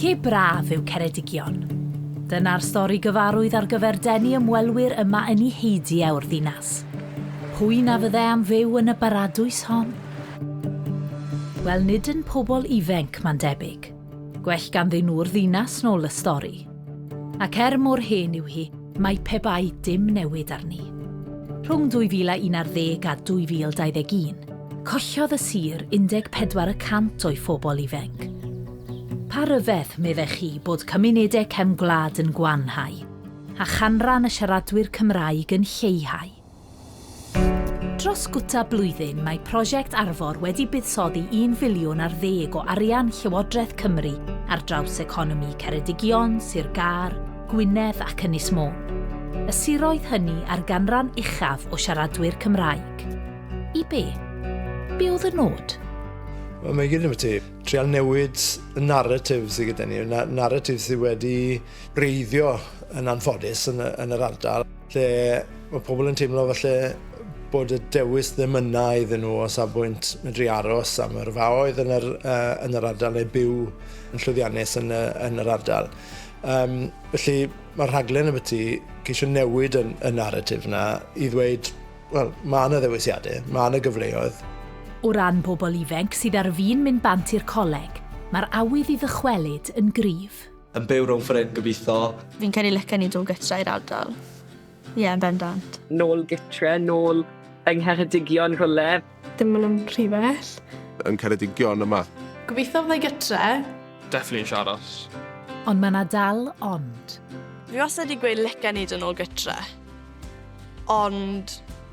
Lle braf yw Ceredigion. Dyna'r stori gyfarwydd ar gyfer denu ymwelwyr yma yn i heidi au'r ddinas. Pwy na fydde am fyw yn y baradwys hon? Wel nid yn pobl ifenc, mae'n debyg. Gwell ganddyn nhw'r ddinas nôl y stori. Ac er mor hen yw hi, mae pe bai dim newid arni. Rhwng 2011 a 2021, collodd y sir 14 y cant o'i phobl ifainc. Pa ryfedd, meddech chi, bod cymunedau cefn gwlad yn gwanhau, a chanran y siaradwyr Cymraeg yn lleihau? Dros gwta blwyddyn mae prosiect Arfor wedi buddsoddi un filiwn ar ddeg o arian Llywodraeth Cymru ar draws economi Ceredigion, Sir Gâr, Gwynedd ac Ynys Môn, y siroedd hynny â'r ganran uchaf o siaradwyr Cymraeg. I be? Be oedd y nod? Wel, mae gyd yn ti. Trial newid y narratif sydd gyda ni, y narratif sydd wedi breiddio yn anffodus yn, yn yr ardal. Lle mae pobl yn teimlo falle bod y dewis ddim yna iddyn nhw o safbwynt medru aros am yr faoedd yn yr, uh, yn yr ardal neu byw yn llwyddiannus yn, y, yn yr ardal. Um, felly mae'r rhaglen y byti ceisio newid y, y narratif yna i ddweud, wel, mae yna ddewisiadau, mae yna gyfleoedd. O ran pobl ifenc sydd ar fin mynd bant i'r coleg, mae'r awydd i ddychwelyd yn gryf. Yn byw rownd ffor hyn gobitho. Fi'n credu licen i dod gytra i'r ardal. Ie, yn bendant. Nôl gytre, nôl yng Ngheredigion rhwle. Dim myn yn rhy bell. Yn Ceredigion yma. Gobitho fyddai gytre. Definitely isie aros. Ond mae 'na dal ond. Fi wastad 'di gweud licen i dod nôl gytre. Ond.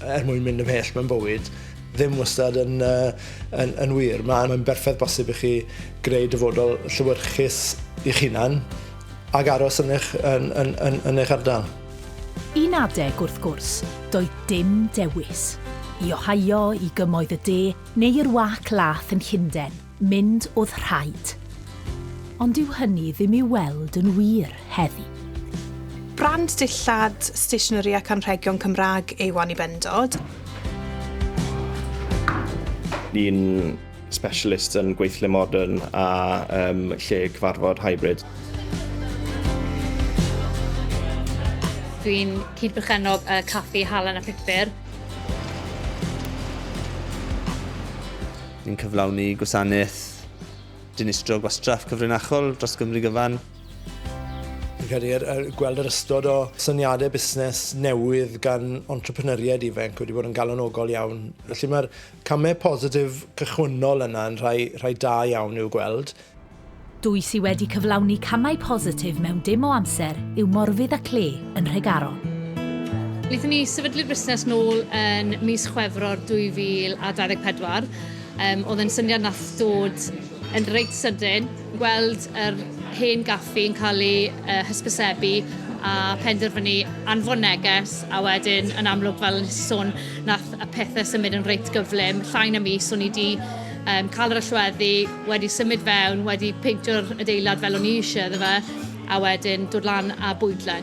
Er mwyn mynd ymhell mewn bywyd, ddim wastad yn, uh, yn, yn wir. Mae'n berffaith bosib i chi greu dyfodol llywyrchus i'ch hunan ac aros yn eich, yn, yn, yn, yn eich ardal. Yn adeg wrth gwrs, doedd dim dewis. I Ohio, i gymoedd y de, neu i'r wâc lath yn Llundain. mynd oedd rhaid. Ond dyw hynny ddim i'w weld yn wir heddi. Brand dillad, stationery ac anrhegion Cymraeg yw Annie Bendod. Ni'n specialist yn gweithle modern a um, lle cyfarfod hybrid. Dwi'n cyd-berchennog y caffi Halen a Phupur Ni'n cyflawni gwasanaeth dinistrio gwastraff cyfrinachol dros Gymru gyfan. Fi'n credu yr, yr, gweld yr ystod o syniadau busnes newydd gan entrepreneuriaid ifanc wedi bod yn galonogol iawn. Felly mae'r camau positif cychwynnol yna yn rhai, rhai da iawn i'w gweld. Dwy sy wedi cyflawni camau positif mewn dim o amser yw Morfudd a Clay yn Nhregaron. Wnaethon ni sefydlu'r busnes nôl yn mis Chwefror 2024. Um, oedd yn syniad nath dod yn reit sydyn, gweld yr hen gaffi yn cael ei uh, hysbysebu a penderfynu anfon neges a wedyn yn amlwg fel yn sôn nath y pethau symud yn reit gyflym, llain y mis o'n i wedi Yym, cael yr allweddi, wedi symud fewn, wedi peintio'r adeilad fel o'n i eisiau iddo fe, a wedyn dod lan a bwydle.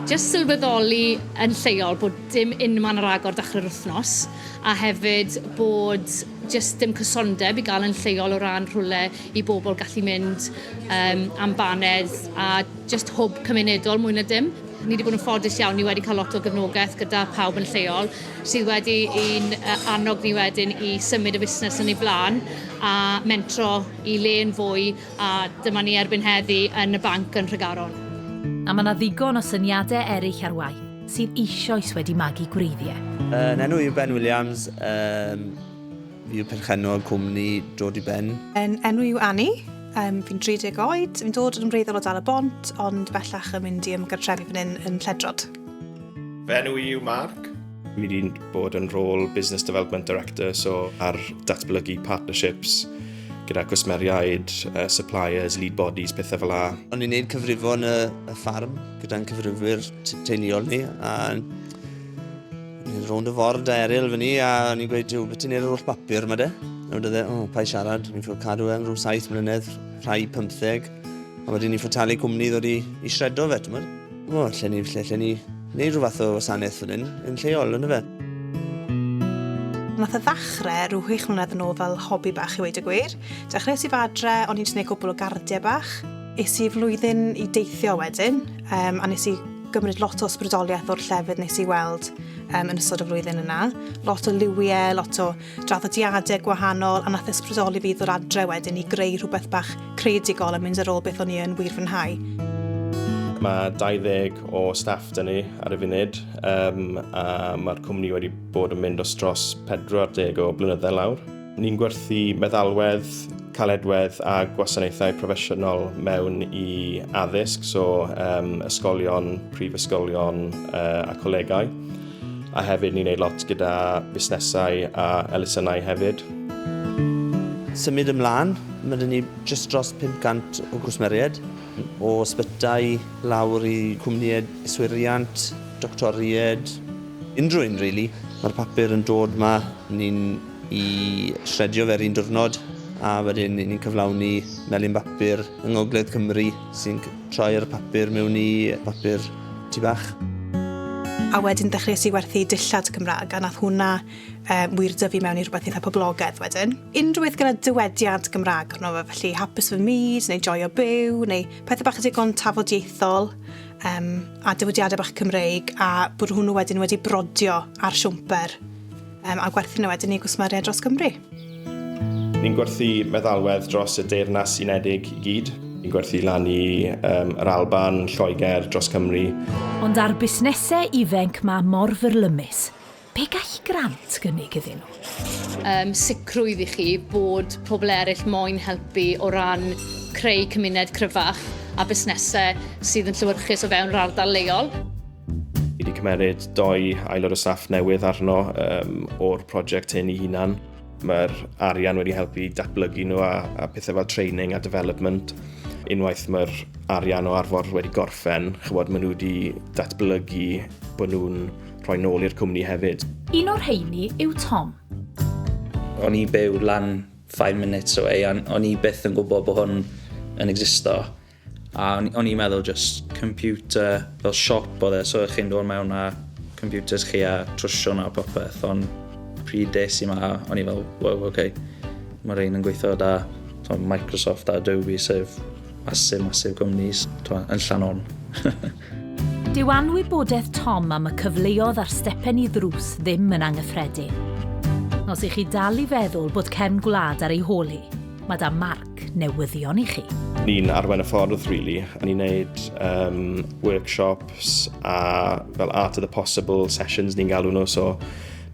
Jyst sylweddoli yn lleol bod dim unman ar agor dechrau'r wythnos, a hefyd bod jyst dim cysondeb i gael yn lleol o ran rhywle i bobl gallu mynd um, am baned a jyst hwb cymunedol mwy na dim. Ni wedi bod yn ffodus iawn, ni wedi cael lot o gefnogaeth gyda pawb yn lleol. sydd wedi i'n annog ni wedyn i symud y busnes yn ei blaen a mentro i le yn fwy a dyma ni erbyn heddi yn y banc yn Nhregaron. A mae 'na ddigon o syniadau eraill ar waith sydd eisioes wedi magu gwreiddiau. Fy enw yw Ben Williams, fi yw perchennog cwmni Dod i Ben. Fy enw yw Annie, fi'n 30 oed, fi'n dod yn wreiddiol o Dal-y-bont ond bellach yn mynd i ymgartrefu fan hyn yn Lledrod. Fy enw i yw Mark. Mi wedi'n bod yn rôl Business Development Director, so ar datblygu partnerships gyda cwsmeriaid, uh, suppliers, lead bodies, pethau fel la. O'n i'n gwneud cyfrifo yn y, y ffarm gyda'n cyfrifwyr teuluol ni, a ni'n rownd y ford a eril fyny, a o'n i'n gweud, beth ti'n neud yr holl bapur yma de? A wedi dweud, o, oh, pa i siarad, ni'n ffwrdd cadw e am rhyw saith mlynedd, rhai pymtheg, a wedyn ni'n ffwrdd talu cwmni ddod i, i shredo fe, ti'n O, lle ni, lle, lle ni neud rhyw fath o wasanaeth fan hyn, yn lleol, yn y fe. Nath y ddachre rhyw hwych mlynedd yn ôl fel hobi bach i weud y gwir. Dechreuais i fadre, o'n i'n jyst neud cwbl o gardiau bach. Es i flwyddyn i deithio wedyn, um, a nes i gymryd lot o ysbrydoliaeth o'r llefydd nes i weld um, yn ystod y flwyddyn yna. Lot o liwiau, lot o draddodiadau gwahanol a nath ysbrydoli fi i ddod adre wedyn i greu rhywbeth bach creadigol a mynd ar ôl beth o'n i yn wir fwynhau. Mae 20 o staff 'da ni ar y funud um, a mae'r cwmni wedi bod yn mynd os dros 40 o blynyddau lawr. Ni'n gwerthu meddalwedd, caledwedd a gwasanaethau proffesiynol mewn i addysg, so um, ysgolion, prifysgolion uh, a colegau. a hefyd ni'n neud lot gyda fusnesau a elusennau hefyd. Symud ymlaen, mae dyn ni just dros 500 o gwsmeriaid, o sbytau lawr i cwmnïau yswiriant, doctoriaid, unrhyw un really. Mae'r papur yn dod ma, ni'n i shredio fe'r un diwrnod a wedyn ni'n cyflawni melin bapur yng Ngogledd Cymru sy'n Troi'r papur mewn i bapur tŷ bach. A wedyn dechreuais i werthu dillad Cymraeg a nath hwnna um, wir dyfu mewn i rhywbeth eitha poblogaidd wedyn. Unrhyw beth gyda dywediad Gymraeg arno fe, felly hapus fy myd, neu joio byw, neu pethau bach digon tafodieithol, um, a dywediadau bach Cymreig, a bod hwnnw wedyn wedi brodio ar siwmper um, a gwerthu nhw wedyn i gwsmeriaid dros Gymru. Ni'n gwerthu meddalwedd dros y Deyrnas Unedig i gyd. Ni'n gwerthu lan i um, yr Alban, Lloegr, dros Cymru. Ond ar busnesau ifenc mae mor fyrlymus. Be gall grant gynnig iddyn nhw? Um, sicrwydd i chi bod pobl eraill moyn helpu o ran creu cymuned cryfach a busnesau sydd yn llywyrchus o fewn yr ardal leol. Fi wedi cymeriad doi aelod o staff newydd arno um, o'r prosiect hyn i hunan. Mae'r arian wedi helpu datblygu nhw a, a pethau fel training a development. Unwaith mae'r arian o arfor wedi gorffen, chybod, maen nhw wedi datblygu bod nhw'n rhoi nôl i'r cwmni hefyd. Un o'r heini yw Tom. O'n i byw lan 5 minutes away, o'n i byth yn gwybod bod hwn yn existo. A o'n o'n i'n meddwl jyst computer fel siop oedd e so o'ch chi'n dod mewn â computers chi a trwsio nhw a popeth ond pryd des i 'ma o'n i fel wow ok ma' rhein yn gweithio 'da t'mo' Microsoft a Adobe sef massive massive cwmnis t'mo' yn Llanon. Dyw anwybodeth Tom am y cyfleodd a'r stepen i ddrws ddim yn angyffredin. Os 'ych chi dal i feddwl bod cefn gwlad ar ei hôl hi, ma' 'da Mark. ac newyddion i chi. Ni'n arwain y ffordd, really. Ni'n gwneud um, workshops a fel Art of the Possible sessions ni'n galw nhw, so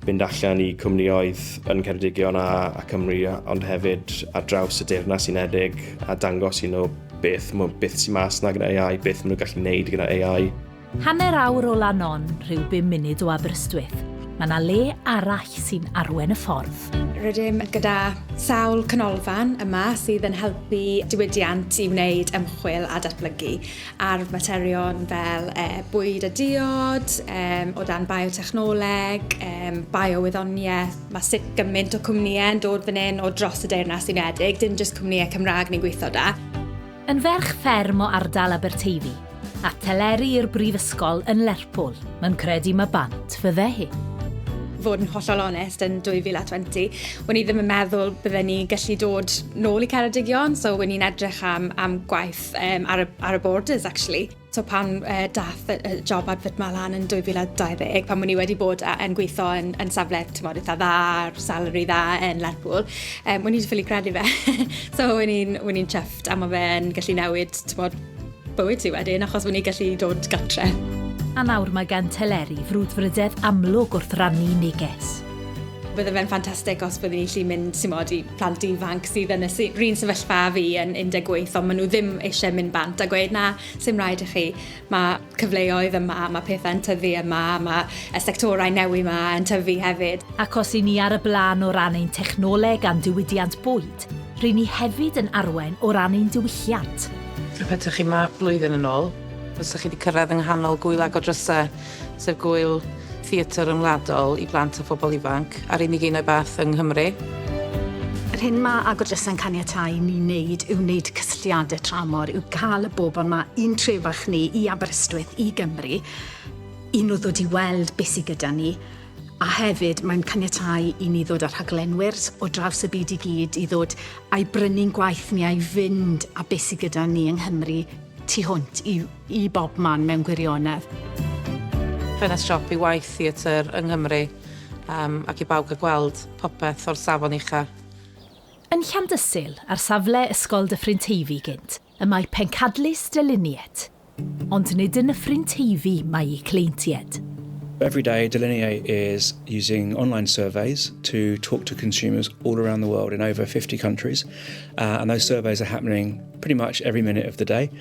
mynd allan i cwmnioedd yn Ceredigion a, a Cymru, ond hefyd ar draws y Deyrnas Unedig a dangos i nhw beth, beth sy'n mas na gyda AI, beth maen nhw'n gallu gwneud gyda AI. Hanner awr o Lanon, rhyw bum munud o Aberystwyth, mae yna le arall sy'n arwen y ffordd. Rydym gyda sawl canolfan yma sydd yn helpu diwydiant i wneud ymchwil a datblygu ar faterion fel e, bwyd a diod, e, o dan biotechnoleg, e, biowyddoniaeth. Mae sut gymaint o cwmnïau yn dod fan hyn o dros y Deyrnas Unedig, dim jyst cwmnïau Cymraeg ni'n gweithio da. Yn ferch fferm o ardal Aberteifi, a theleri i'r brifysgol yn Lerpwl. Mae'n credu mae bant fydde hi. fod yn hollol onest, yn 2020, wn i ddim yn meddwl bydden ni gallu dod nôl i Ceredigion, so wn i'n edrych am, am gwaith um, ar, y, ar y borders, actually. So pan daeth y job advert 'ma lan yn 2020, pan o'n i wedi bod yn gweithio yn safle timod eitha dda, salary dda yn Lerpwl, o'n i 'di ffili credu fe. So o'n i'n chuffed a ma' fe'n gallu newid timod bywyd ti wedyn achos o'n i'n gallu dod gartre. A nawr mae gan Teleri frwdfrydedd amlwg wrth rannu neges. Bydde fe'n ffantastig os byddwn i'n gallu mynd timod i plant ifanc sydd yn y sy- run sefyllfa a fi yn 18 ond maen nhw ddim eisiau mynd bant a gweud na, sy'n rhaid i chi. Mae cyfleoedd yma, mae pethau'n tyfu yma, mae y sectorau newi yma yn tyfu hefyd. Ac os i ni ar y blaen o ran ein technoleg a'n diwydiant bwyd, rŷn ni hefyd yn arwain o ran ein diwylliant. Petaech chi 'ma blwyddyn yn ôl, fysech chi wedi cyrraedd yng nghanol gŵyl ag o drysau. sef Gŵyl Theatr Ryngwladol i Blant a Phobl Ifanc, a'r unig un o'i fath yng Nghymru. Yr hyn mae Agor Drysau'n caniatáu i ni wneud yw wneud cysylltiadau tramor, yw cael y bobl 'ma i'n trefach ni, i Aberystwyth, i Gymru, i nhw ddod i weld beth sydd gyda ni, a hefyd mae'n caniatáu i ni ddod â rhaglenwyr o draws y byd i gyd i ddod a'i brynu'n gwaith ni, a'i fynd â beth sydd gyda ni yng Nghymru tu hwnt i i bob man mewn gwirionedd. Ffenest siop i waith theatr yng Nghymru yym ac i bawb gael gweld popeth o'r safon ucha'. Yn Llandysul, ar safle Ysgol Dyffryn Teifi gynt, y mae pencadlys dylunied. Ond nid yn Nyffryn Teifi mae eu cleintied. Everyday Delineate is using online surveys to talk to consumers all around the world in over 50 countries, and those surveys are happening pretty much every minute of the day.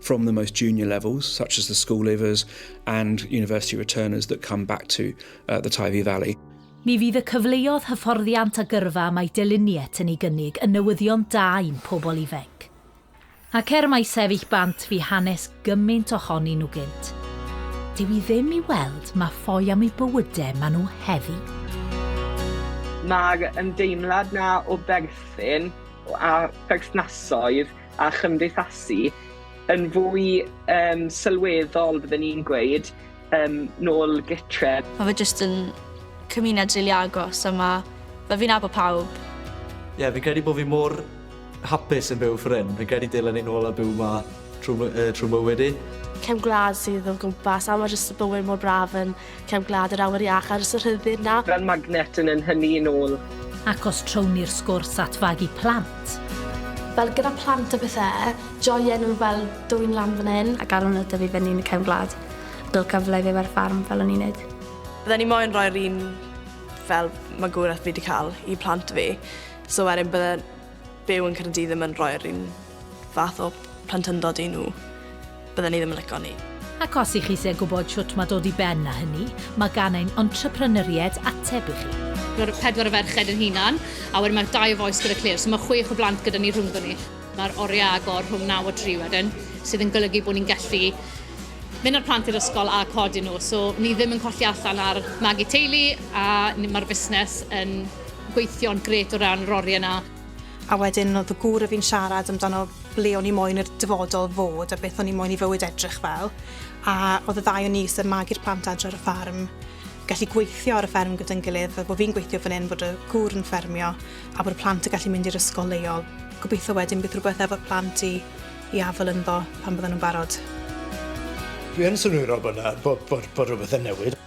from the most junior levels, such as the school leavers and university returners that come back to uh, the Tyvee Valley. Ni fydd y cyfleodd hyfforddiant a gyrfa mae Deliniet yn ei gynnig yn newyddion da i'n pobl ifanc. Ac er mae sefyll bant fi hanes gymaint ohoni nhw gynt. Dyw i ddim i weld mae ffoi am eu bywydau maen nhw heddi. Mae'r ymdeimlad na o berthyn a perthnasoedd a chymdeithasu yn fwy um, sylweddol, byddwn ni'n gweud, um, nôl gytre. Mae fe jyst yn cymuned rili really agos a mae fe fi'n abo pawb. Ie, yeah, fi'n credu bod fi mor hapus yn byw ffrin. Fi'n credu dylen ni'n ôl a byw ma trwy, uh, trwy mywyd i. Cem gwlad sydd o gwmpas a mae jyst y bywyd mor braf yn Cefn Gwlad yr Awyr Iach ar y Sir Rhydd na. Fel magnet yn yn hynny yn ôl. Ac os trown ni'r sgwrs at fagu plant. Fel gyda plant a pethe, joien nhw fel dwyn lan fan hyn. Ac ar ol nhw dyfu fyny yn y Cefn Gwlad, bil cyfle i fyw ar ffarm fel o'n i'n neud. Bydden i moyn rhoi'r un fel magwraeth fi 'di ca'l i plant fi, so wedyn bydden Byw yn Caerdydd ddim yn rhoi'r un fath o plentyndod i nhw, bydden ni ddim yn lico 'ny. Ac os y'ch eisiau gwybod shwt mae dod i ben â hynny, mae gan ein entrepreneuriaid ateb i chi. Mae'r pedwar o ferched ein hunan, a wedyn mae'r dau o Voice gyda Claire, so mae chwech o blant gyda ni rhwngddon ni. Mae'r oriau agor rhwng naw a dri wedyn, sydd yn golygu bod ni'n gallu mynd â'r plant i'r ysgol a codi nhw, so ni ddim yn colli allan ar magu teulu a ni... mae'r fusnes yn gweithio'n grêt o ran yr oriau yna. A wedyn oedd fy gŵr a fi'n siarad amdano ble o'n i moyn i'r dyfodol fod a beth o'n i moyn i fywyd edrych fel. A oedd y ddau o ni, sef magu'r plant adre ar y ffarm, gallu gweithio ar y fferm gyda'n gilydd, fel bod fi'n gweithio fan hyn, bod y gŵr yn ffermio, a bod y plant yn gallu mynd i'r ysgol leol. Gobeithio wedyn bydd rhywbeth efo'r plant i, i afael ynddo pan bydden nhw'n barod. Dwi yn synwyrol bod 'na, bod, bod, bod rhywbeth yn newid.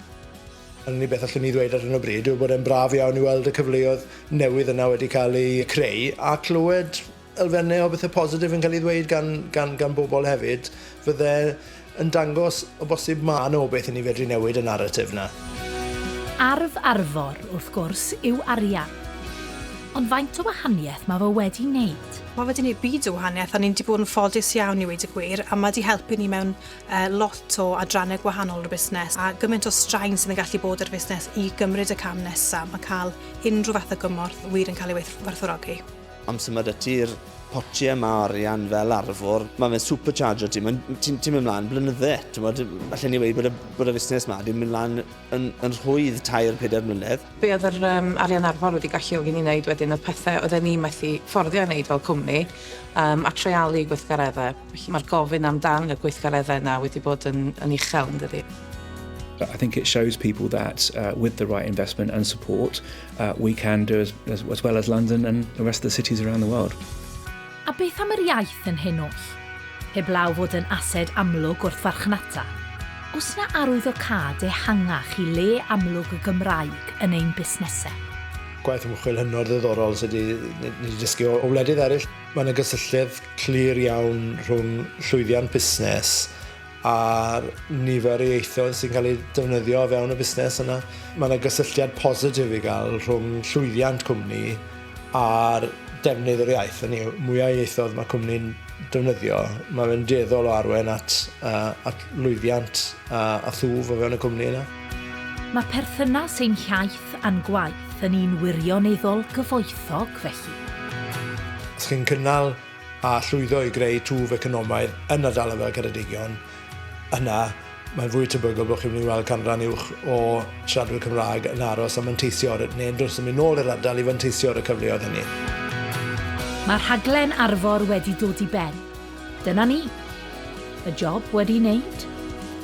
Yr unig beth allwn i ddweud ar hyn o bryd yw bod e'n braf iawn i weld y cyfleoedd newydd yna wedi cael eu creu a clywed elfennau o bethau positif yn cael ei ddweud gan, gan, gan bobl hefyd. Fydde yn dangos o bosib ma' 'na obaith i ni fedru newid y naratif 'na. Arf Arfor, wrth gwrs, yw arian. Ond faint o wahaniaeth mae fe wedi wneud? Mae fe 'di 'neud byd o wahaniaeth a ni'n 'di bod yn ffodus iawn i weud y gwir a mae 'di helpu ni mewn lot o adrannau gwahanol o'r busnes a gymaint o straen sydd yn gallu bod ar fusnes i gymryd y cam nesaf, mae cael unrhyw fath o gymorth wir yn cael ei werthfawrogi. Amser mae 'da ti'r potie yma o arian fel arfwr, mae fe'n supercharger ti, mae'n, ti'n ti mynd mlaen blynydde, ti'n bod, allen ni wedi bod y, bod y fusnes yma wedi mynd mlaen yn, yn rhwydd tair, pedair mlynedd. Be oedd yr um, arian arfwr wedi galluogi ni wneud wedyn oedd pethau oedden ni methu fforddio ei wneud fel cwmni um, a treialu gweithgareddau. Felly mae'r gofyn am dan y gweithgareddau yna wedi bod yn yn uchel yn dydi? I think it shows people that uh, with the right investment and support, uh, we can do as, as, as well as London and the rest of the cities around the world. A beth am yr iaith yn hyn oll? Heblaw fod yn ased amlwg wrth farchnata, os na arwyddocâd ehangach i le amlwg y Gymraeg yn ein busnesau. Gwaith ymchwil hynod ddiddorol sydd wedi dysgu o, o wledydd eraill. Mae yna gysylltiad clir iawn rhwng llwyddiant busnes a'r nifer o ieithoedd sy'n cael eu defnyddio o fewn y busnes yna. Mae yna gysylltiad positif i gael rhwng llwyddiant cwmni a'r defnydd yr iaith. Hynny yw, mwyaf ieithoedd mae cwmni'n defnyddio, mae fe'n dueddol o arwain at, uh, at lwyddiant uh, a thwf o fewn y cwmni yna. Mae perthynas ein hiaith Beth a'n gwaith yn un wirioneddol gyfoethog felly? Os chi'n cynnal a llwyddo i greu twf economaidd yn ardal fel Ceredigion, yna mae'n fwy tebygol bod chi'n mynd i weld canran uwch o siaradwyr Cymraeg yn aros a manteisio ar, neu'n dros yn mynd nôl i'r ardal i fanteisio ar y cyfleoedd hynny. Mae rhaglen Arfor wedi dod i ben. Dyna ni. Y job wedi wneud.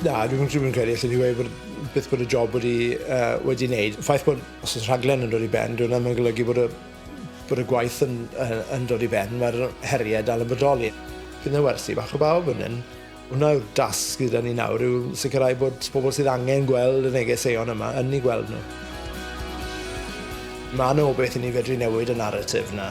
Na, dwi'm dwi'm yn credu allen i weud bod byth bod y job wedi uh, wedi wneud. Y ffaith bod os oes rhaglen yn dod i ben, dwi'n ddim yn golygu bod y bod y gwaith yn, yn, yn dod i ben, mae'r heriau dal yn bodoli. Fydd yna wersi bach o bawb yn hyn. Hwna yw'r dasg gyda ni nawr yw sicrhau bod pobl sydd angen gweld y negeseuon yma yn ei gweld nhw. Mae yna o beth i ni fedru newid y narratif yna.